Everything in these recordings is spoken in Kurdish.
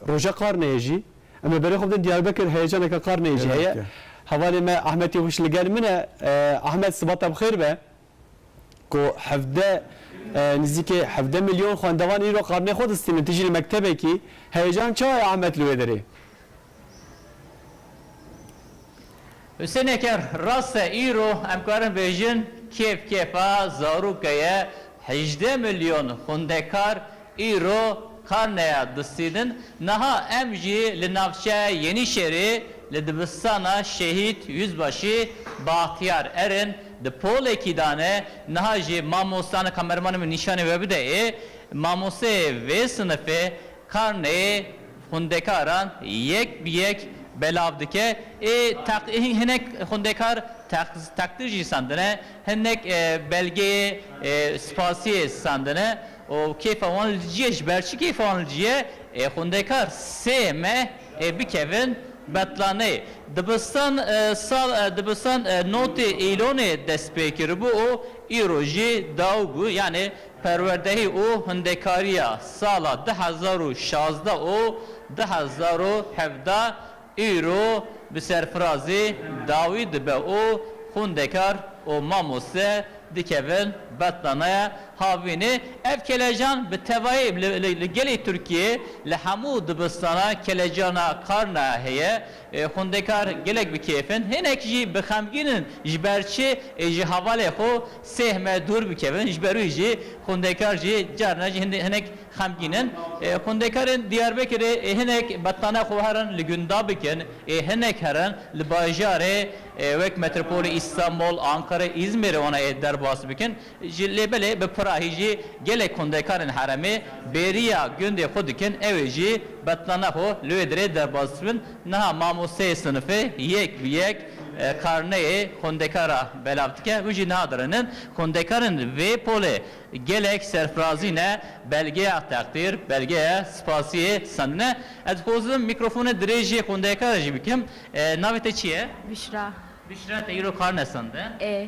Roja qarneyê jî em li berê xwe bidin Diyarbekir heyecaneke qarneyê jî heye. Hevalê me Ahmet Yewîş li gel min e. Ahmet sibat te bi xêr be. Ku hevdeh nizîkê hevdeh milyon xwendevan îro qarneyê xwe distînin. Tu jî li mektebekî. Heyecan çawa ye Ahmet li wê derê? Husêneke rast e îro em karin bêjin kêf kêfa zarûke ye. Hejdeh milyon xwendekar îro karneya distînin. Niha em jî li navçeya Yenîşehîrê li dibistana Şehîd Yuzbaşî Baxtiyar erin. Di polekî de ne. Niha jî mamoste, ana kamermanê min nîşanê we bide ê, mamosteyê vê sinifê Karneyê xwendekaran yek bi yek belav dike ê teq hinek xwendekar teq teqdir jî sandine hinek belgeyê spasiyê sandine û kêfa wan li ciye ji ber çi kêfa wan li ciye ê xwendekar sê meh ê bikevin betlaneyê dibistan sal dibistan notê îlonê dest pê kiribû û îro jî daw bû yanê Perwerdehî û Hundekarîya sala du hezar û şazdeh û du hezar û hevdeh îro bi serfirazî dawî dibe û xwendekar û mamoste dikevin betlanaya havînê. Ev kelecan bi tevayî li gelê Tirkiyeyê li hemû dibistana kelecana Karnaya heye. Xwendekar gelek bi kêf in, hinek jî bi xemgîn in ji ber çi ji hevalê xwe sêh me dûr bikevin. Ji ber wî jî xwendekar jî carna jî hinek xemgîn in. Xwendekarên Diyarbekirê hinek betane xwe herin li gunda bikin, hinek herin li bajarê wek metropolê Îstanbol, Ankara, Îzmir wana derbas bikin. Ji lê belê bi pirahî jî gelek hundekarên heremê bêriya gundê xwe dikin ew ê jî betlana xwe li wê dirê derbas bibin. Niha mamosteyê sinifê yek bi yek karneyê xwendekara belav dike û jî niha dirinin. Xwendekarên vê polê gelek serfirazî ne belgeya teqdîr, belgeya spasiyê sendine. Ez dixwazim mîkrofonê dirêjê xwendekara jî bikim. Navê te çi ye? Bişra. Bişra te îro karne sendin? Ê.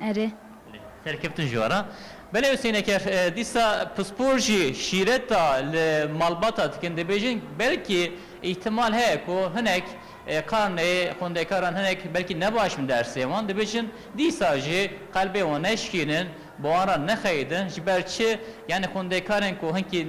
Erê. Belê. Serkeftin ji we re. Belê Huseyneker, dîsa pispor jî şîreta li malbata dikin. Dibêjin belkî îhtimal heye ku hinek karnê xwendekaran hinek belkî nebaş bin dersê wan. Dibêjin dîsa jî qelbê wan neşikînin, bi wan re nexeyidin. Ji ber çi? Yanî xwendekarên ku hinkî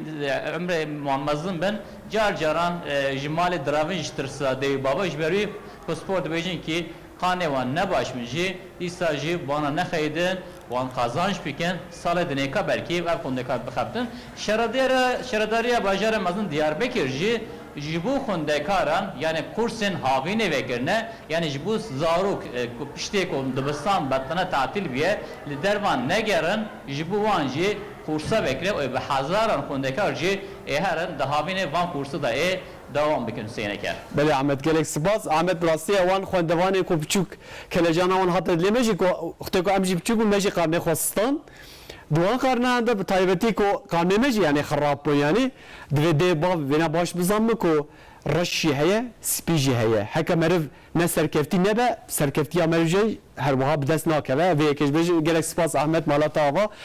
umrê wan mezin bin car caran ji malê diravin ji tirsa dayî û bavê. Ji ber wî pispor dibêjin kî Xanê wan ne baş bin jî îsta jî wana nexeyidin wan qazanc bikin salê dinêka belkî ev xwendekar bixebtin. Şaredêra Şaredariya Bajarê Mezin Diyarbekir jî ji bo xwendekaran yanê kursên havînê vekirine yanê ji bo zarok ku piştê ku dibistan betine tatîl biye li dervan negerin ji bo wan jî kursa vekire û bi hezaran xwendekar jî ê herin di havînê van kursa de ê Dawam bikin sêneke. Belê Ahmet gelek sipas Ahmet bi rastî ya wan xwendevanê ku piçûk kelejana wan hate dilê me jî ku wextê ku em jî piçûk bûn me jî karnê xwe sistand di wan karnayan de bi taybetî ku karnê me jî yanî xerab bûn yanî divê dê bav vêna baş bizan min ku reş jî heye spî jî heye heke meriv ne serkevtî nebe serkevtîya meriv jî herwiha bi dest nakeve vê yekê ji gelek sipas Ahmet malata ava.